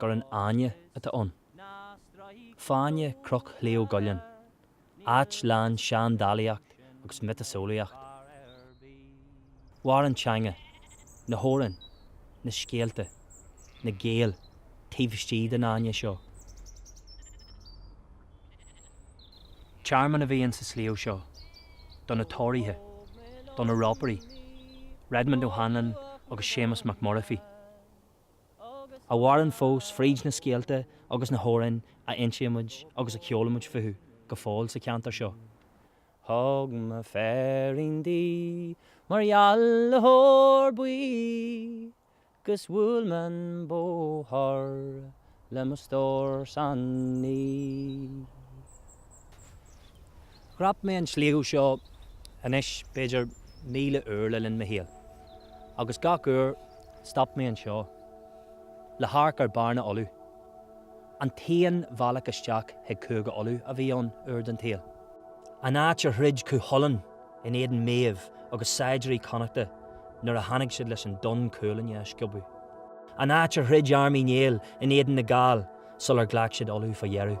gur an fháinne atá ann. Fáinne Cnoc Shliabh gCuillinn, áit lán seandálaíocht agus miotaseolaíocht. Mhair an teanga, na hamhráin, na scéalta, na Gaeil taobh istigh den fháinne seo. Tearmann a bhí ann sa sliabh seo do na Tóraithe, do na Rópairí, Redmond O'Hanlon agus Séamus Mac Murphy. a mhaireann fós fríd na scéalta agus na hamhráin a insímid agus a cheolaimid fúthu go fóill sa cheantar seo. Thug mé féirín di mar gheall le hór buí 'gus bhuail mé an bóthar le mo stór san oíche. Dhreap mé an sliabh seo anois b'fhéidir míle uair le linn mo shaoil, agus gach uair stop mé anseo le hamharc ar Bearna Uladh. An t-aon bhealach isteach chuig Cúige Uladh a bhí ann uair den tsaol, an áit ar throid Cú Chulainn. in éadan Méabh agus saighdiúirí Connachta nuair a tháinig siad leis an Donn Cuailnge a sciobadh, an áit ar throid arm Uí Néill in éadan na Gall sular ghlac siad Uladh fá dheireadh.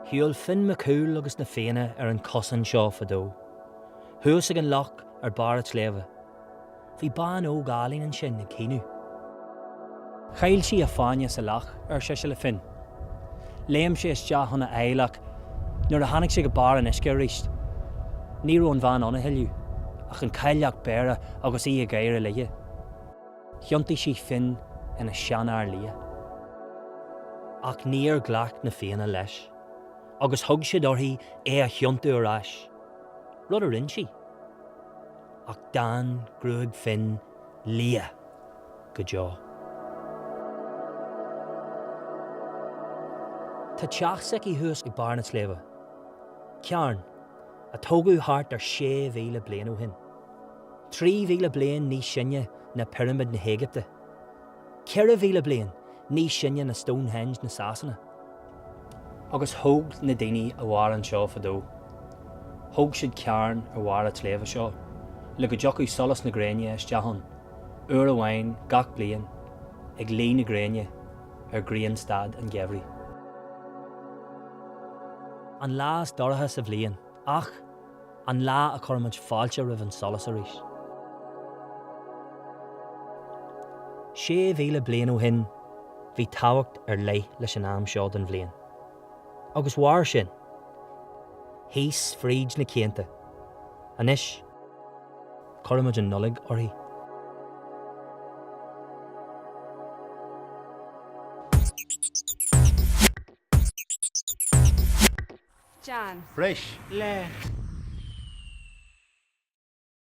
Shiúil Finn Mac Cumhaill agus na Fianna ar an cosán seo fadó, thuas ag an loch ar barr an tsléibhe. Bhí bean óg álainn ansin ag caoineadh. Chaill sí a fáinne sa loch, ar sise le Finn. Léim sé isteach chun a fháil ach nuair a tháinig sé go barr an uisce arís, ní raibh an bhean ann a thuilleadh, ach an Cailleach Béarra agus í ag gáire leis. Thiontaigh sí Finn ina sheanfhear liath. Ach níor ghlac na Fianna leis agus thug siad uirthi é a thiontú ar ais, rud a rinne sí. Ach d'fhan gruag Finn liath go deo. Tá teach s'aici thuas ag barr na sléibhe, carn a tógadh thart ar 6,000 bliain ó shin, 3,000 bliain níos sine ná Pirimid na hÉigipte. 4,000 bliain níos sine ná Stonehenge na Sasana. Agus thóg na daoine a mhair anseo fadó, thóg siad carn ar bharr a' tsléibhe seo le go dtiocfadh solas na gréine isteach ann uair amháin gach bliain ag luí na gréine ar ghrianstad an gheimhridh. An lá is dorcha sa bhliain. Ach. An lá a chuirimid fáilte roimh an solas arís. Sé mhíle bliain ó shin, bhí tábhacht ar leith leis an am seo den bhliain. Agus mhair sin thíos fríd na cianta. Anois, tugaimid an Nollaig uirthi. John. Breis le.